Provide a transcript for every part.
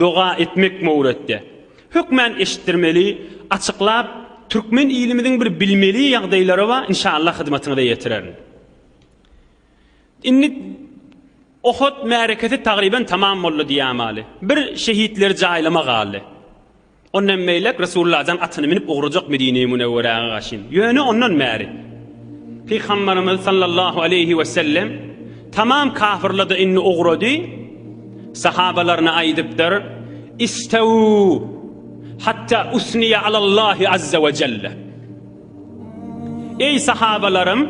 Doga etmek Mowretde. Hökmän eşitdirmeli, açyklap Türkmen ilimiziň bir bilmeli ýagdaýlary bar inşallah hyzmatyňyza ýetirerin. Indi Ohot märekesi tagryban tamam boldy diýämaly. Bir şehitleri jaýlama galdy. Ondan beýlek Resulullah-dan atyny minip ugrajak Medine-i Münewweräge gaşyn. Ýöne ondan bäri Pygamberimiz sallallahu aleyhi we sellem Tamam kafirlady indi ugrady sahabalaryna aýdypdyr istew hatta usniya alallahi azza we jelle Eý sahabalarym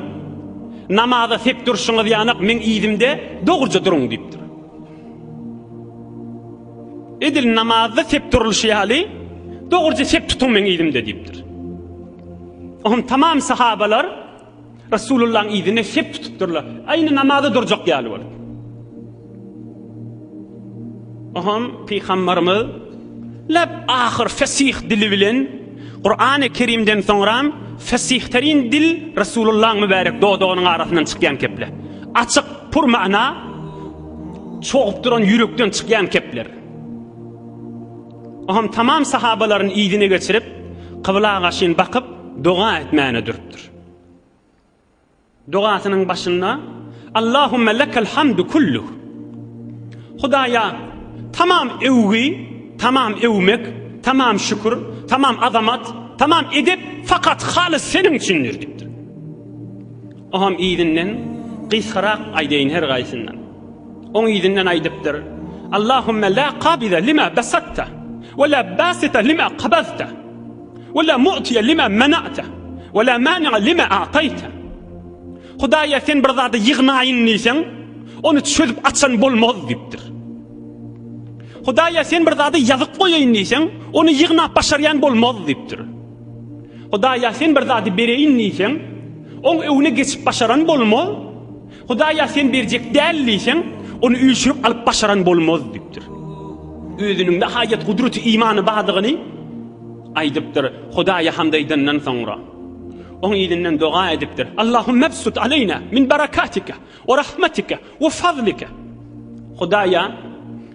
namaza sep durşuňyz ýanak meň ýüzümde dogruja duruň diýipdir Edil namazda sep durulşy ýaly dogruja sep tutuň meň ýüzümde diýipdir Oňa tamam sahabalar Resulullahyň yzyna sep tutupdyrlar. Aýna namaza durjak ýaly bolup. Oham pygamberimiz lep ahyr fesih dili bilen Kur'an-ı Kerimden soňram fesihtarin dil Resulullah'ın mübarek dodagynyň arasyndan çykýan keple. Açyk, pur mana çogup duran ýürekden çykýan kepler. Oňam tamam sahabalaryny yzyna geçirip, kybla gaşyn bakyp, doga etmäne durupdyr. Dogasynyň başynda Allahumma lekal hamdu kullu. Hudaýa tamam öwgi, tamam öwmek, tamam şükür, tamam azamat, tamam edep fakat halys seniň üçindir diýipdir. Oňam yzyndan gysgarak aýdaýyn her gaýsyndan. Oň yzyndan aýdypdyr, Allahümme la kabize lima besatta, we la basita lima kabazta, we la mu'tiye lima mena'ta, we la mani'a lima a'tayta. Hudaýa sen bir zady ýygnaýyn diýseň, ony çözüp açan bolmaz diýipdir. Hudaýa sen bir zady ýazyp goýaýyn diýseň, ony ýygnap başarýan bolmaz diýipdir. Hudaýa sen bir zady bereýin diýseň, oň öwne geçip başaran bolmaz. Hudaý ýa sen berjek däl diýseň, ony üýşürip alyp başaran bolmaz diýipdir. Özüniň-de haýat gudraty imany bardygyny aýdypdyr. Hudaýa hamd aýdandan soňra, oň yzyndan doga edipdir. Allahumma absut aleýna min barakatika we rahmatika we fazlika. Hudaýa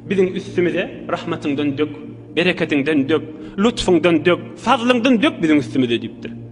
biziň üstümize rahmatyňdan dök, bereketiňden dök, lutfyňdan dök, fazlyňdan dök biziň üstümize diýipdir.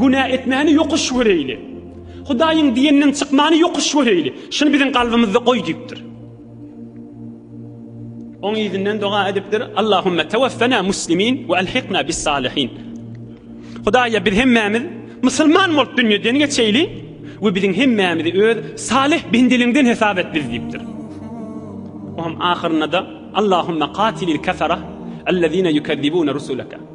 Günä etmäni ýokuş göreýli. Hudaýyň diýeninden çykmany ýokuş göreýli. Şuny biziň kalbymyzda goý diýipdir. Oň ýüzünden doga edipdir. Allahumma tawaffana muslimin we alhiqna bis salihin. Hudaýa biz hemmämiz musulman bolup dünýeden geçeýli we biziň hemmämizi öz salih bendeliňden hesap et biz diýipdir. Oňam ahyrynda da Allahumma qatilil kafara allazina yukazzibuna rusulaka.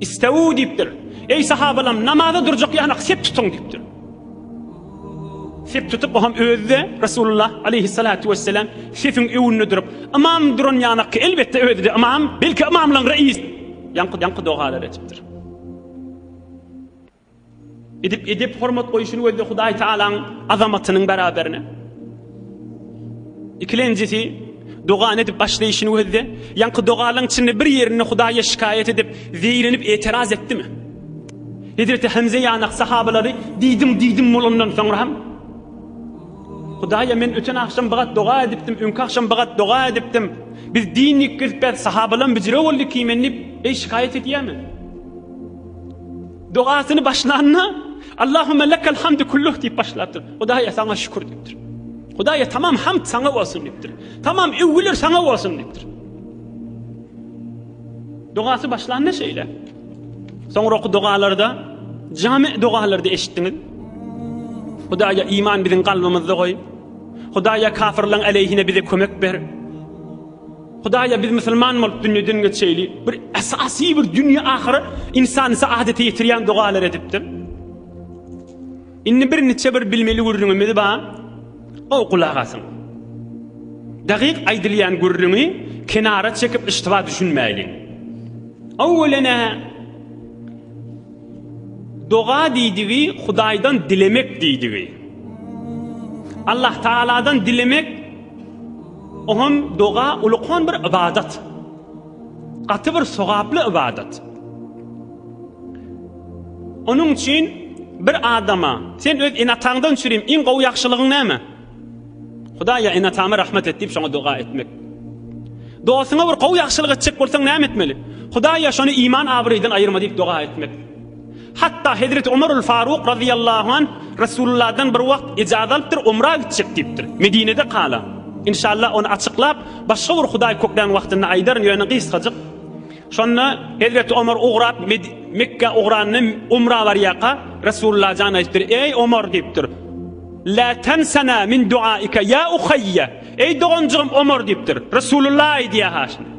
Istew diýipdir. Eý sahabalam, namaza durjak ýanak sep tutuň diýipdir. Sep tutup oňam özi-de Resulullah aleyhissalatu wesselam sepiň öňünde durup, ymam duran ýanakka elbetde özi-de ymam, belki ymamlaň reýis. Ýaňky ýaňky dogalar etipdir. Edip edip hormat goýuşyny gözle Hudaý Taalaň azamatynyň beraberine. Ikilenjisi dogan edip başlaýşyny gözle. Ýaňky dogalaryň içinde bir ýerinde Hudaýa şikaýat edip, zeýrenip etiraz etdimi? Hezreti Hamza ýanak sahabalary diýdim diýdim bolandan soňra hem Hudaýa men öten agşam bagat doga edipdim, öňki agşam bagat doga edipdim. Biz din ýitgizip, sahabalam bijire boldy kimen diýip, eý şikaýat edýärmi? Dogasyny başlanda Allahümme lekel hamdu kulluh diýip başlapdyr. Hudaýa saňa şükür diýipdir. Hudaýa tamam hamd saňa bolsun diýipdir. Tamam öwgüler saňa bolsun diýipdir. Dogasy başlanda şeýle. Soňra oky dogalarda, jami dogalarda eşitdiňiz. Hudaýa iman biziň kalbymyzda goý. Hudaýa kafirleň aleyhine bize kömek ber. Hudaýa biz musulman bolup dünýeden geçeýli bir esasy bir dünýe ahyret ynsan saadete ýetirýän dogalar edipdir. Indi bir niçe bir bilmeli gürrüňimiz bar. O gulak asyň. Dagyk aýdylýan gürrüňi kenara çekip iştiba düşünmäýliň. Awwelene doga diýdigi Hudaýdan dilemek diýdigi. Allah Taaladan dilemek Oňam doga ulukan bir ybadat. Gaty bir sogaply ybadat. Onuň üçin bir adama sen öz enataňdan çürim iň gowy ýagşylygyň näme? Hudaý ýa enatama rahmet et diýip şoňa doga etmek. Dostuňa bir gowy ýagşylyk etjek bolsaň näme etmeli? Hudaý ýa şony iman abraýdan aýyrma diýip doga etmek. Hatda hezreti Omarul Faruk razyýallahu anh Resulullahdan bir wagt ejazat alypdyr omra gitjek diýipdir. Medinede kalan. Inşallah ony açyklap başga bir Hudaý köklän wagtynda aýdaryn ýöne gysgajyk. Şonda hezreti Omar ugrap Mekgä ugranda omra barýaka Resulullah jan aýypdyr eý Omar diýipdir. La tansana min duaika ya uhaýya. Eý doganjygym Omar diýipdir. Resulullah aýdýa ha şuny.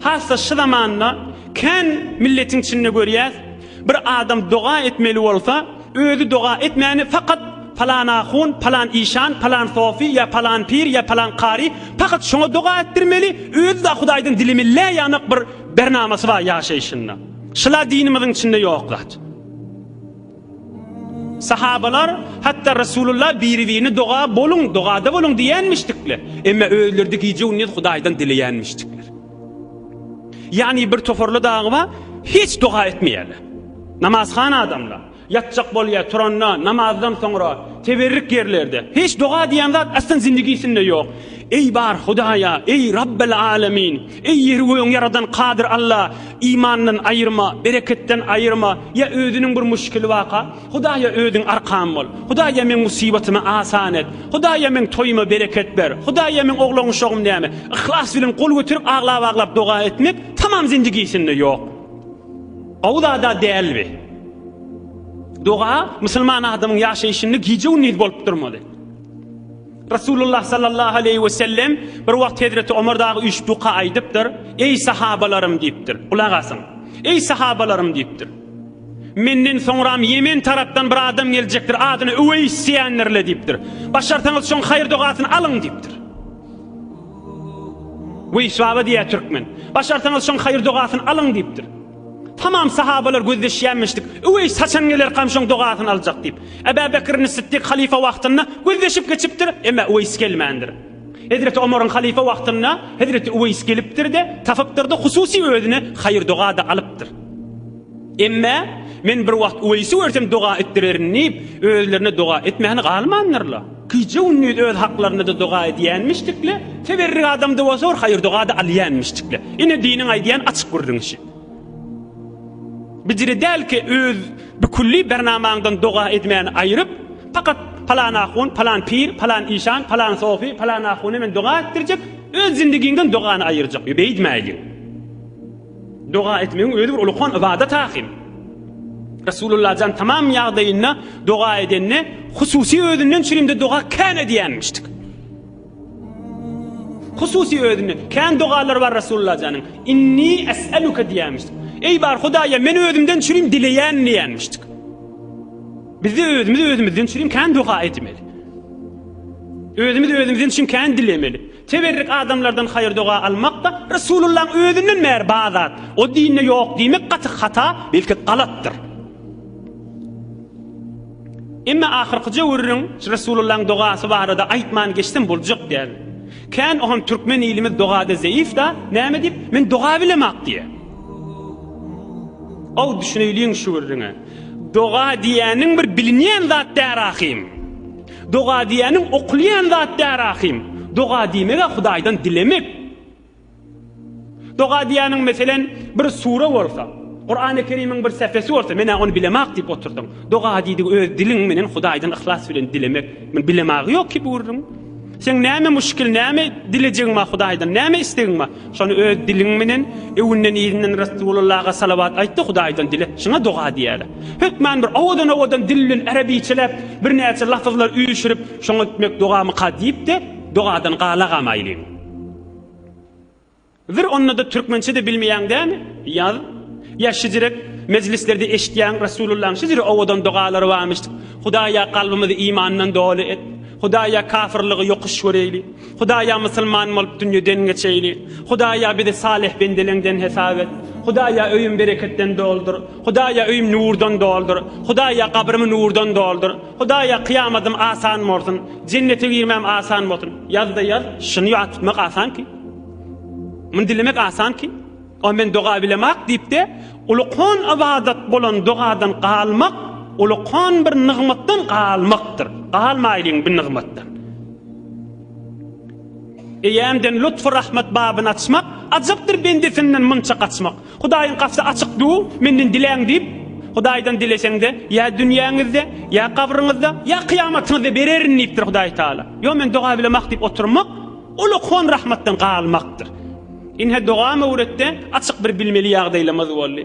Hassa şu zamanda kän milletiň içinde görýäs, bir adam doga etmeli bolsa, özi doga etmäni fakat palan ahun, palan işan, palan sofi ýa palan pir ýa palan kari fakat şoňa doga etdirmeli, özi da hudaýdan dilimi lä ýanak bir bernamasy bar ýaşaýşynda. Şula dinimiziň içinde ýok zat. Sahabalar hatda Resulullah biri-birini doga boluň, dogada boluň diýenmişdikler. Emma özleride gije-gündiz Hudaýdan dileýänmişdikler. Ýagny bir toparly dagyba hiç doga etmeýärler. Namazhan adamlar ýatjak bolýar, turanda, namazdan soňra, teberrik ýerlerde. Hiç doga diýen zat aslan zindigisinde ýok. Eý bar Hudaýa, eý Rabbel Alamin, Eý ýeri gögüň ýaradan Kadyr Alla, imandan aýyrma, bereketden aýyrma, ýa özüniň bir müşkili baka, Hudaýa özüň arkan bol, Hudaýa meň musybatymy asan et, Hudaýa meň toýuma bereket ber, Hudaýa meň oglan-uşagym näme, yhlas bilen gol göterip aglap-aglap doga etmek tamam zindigisinde ýok. Gowy zada däl bi. Doga musulman adamyň ýaşaýşynda gije-gündiz bolup durmaly. Resulullah sallallahu aleýhi we sellem bir wagt Hezreti Omar dagy üýşüp duka aýdypdyr. Eý sahabalarym diýipdir. Gulak asyň. Eý sahabalarym diýipdir. Menden soňram Ýemen tarapdan bir adam geljekdir. Adyny Üweýs diýendirler diýipdir. Başarsaňyz şoň haýyr dogasyny alyň diýipdir. Üweýs baba diýýär türkmen. Başarsaňyz şoň haýyr dogasyny alyň diýipdir. Tamam sahabalar gözleşýänmişdik. Üweýs haçan gelerkam şoň dogasyny aljak diýip. Ebä Bekrini Sytdyk halyfa wagtynda gözleşip geçipdir, emma Üweýs gelmändir. Hezreti Omaryň halyfa wagtynda hezreti Üweýs gelipdir-de, tapypdyr-da, hususy özüne haýyr-doga-da alypdyr. Emma men bir wagt Üweýsi görsem doga etdirerin diýip, özlerine doga etmäni galmandyrlar. Gije-gündiz öz haklarynda-da doga edýänmişdikle, teberrik adamda bolsa bir haýyr-doga-da alýanmişdikle. Ine, diniň aýdýan açyk gürrüň işi. Biciri dälki öz bikülli bernamaňdan doga edmäni aýyryp, pakat palan ahun, palan pir, palan işan, palan sofi, palan ahuna men doga etdirjek, öz zindigiňden dogany aýyrjak. Ýö, beýdmäýliň. Doga etmegiň özi bir ulukan ybadat ahyryn. Resulullah jan tamam ýagdaýynda doga edende, hususy özünden çürimde doga kän edýänmişdik. Hususy özünde kän dogalar bar Resulullah janyň. Inni es'eluka diýämişdik. Eý bar Hudaýa, men özümden çürim dileýän diýämişdik. Bizde özümiz özümizden çürim kän doga etmeli. Özümiz özümizden çürim kän dilemeli. Teberrik adamlardan haýyr-doga almak-da Resulullahyň özünden bäri bar zat. O dinde ýok diýmek gaty hata, belki galatdyr. Emma ahyrky jöwürriň Resulullahyň dogasy barada aýtman geçsem boljak däl. Kän ohan türkmen ilimiz dogada zeýif-da, näme diýip, men doga bilemok diýýär. Ow, düşüneýliň şu gürrüňe. Doga diýýäniň bir bilinýän zat däl ahym. Doga diýeniň okulýan zat däl ahym. Doga diýmeg-ä Hudaýdan dilemek. Doga diýeniň meselen bir sure bolsa, Kurany Kerimiň bir säfesi bolsa, men-ä ony bilemok diýip oturdyň. Doga diýdigi öz diliň menen Hudaýdan yhlas bilen dilemek. Muny bilemagi ýok ki bu gürrüň. Seň näme muşkil, näme dilejegiň bar Hudaýdan, näme islegiň bar? Şony öz diliň menen öwünden-irinden Ressululaga salawat aýt-da Hudaýdan dile, şuňa doga diýerler. Hökman bir owadan-owadan dil bilen arabyçeläp, birnäçe lapyzlar üýşürip, şoňa ötmek dogamyka diýip-de, dogadan gala gamaýlyň. Vir onda-da türkmençe-de bilmeýäň dämi? Ýaz. Ýa şijirek mejlislerde eşitýäň Ressululaň şijiri owadan dogalary barmyş, Hudaýa kalbymyzy imandan doly et, Hudaýa kafyrlygy ýokuş göreýli, Hudaýa musulman bolup dünýeden geçeýli. Hudaýa bizi salyh bendeleňden hesap et. Hudaýa öýüm bereketden doldur. Hudaýa öýüm nurdan doldur. Hudaýa gabrymy nurdan doldur. Hudaýa kyýamadym asan bolsun. Jennete girmem asan bolsun. Ýazda ýaz, şyny ýatmak asanky. Muny dilemek asanky. O men doga bilemok diýipdi. Ulukan ybadat bolan dogadan galmak ulukan bir nygmatdan galmakdyr. Galmaýlyň bir nygmatdan. Eýemden lutf rahmat babyny açmak, ajapdyr bendesinden munça gaçmak. Hudaýyň gapsy açyk du, menden diläň diýip, Hudaýdan dileseňde, ýa dünýäňizde, ýa gabryňyzda, ýa kyýamatyňyzda bererin diýipdir Hudaý Taala. Ýok men doga bilemok diýip oturmak, Ol okan rahmatdan galmakdyr. Ine dogam öwretde açyk bir bilmeli ýagdaýlamyz boldy.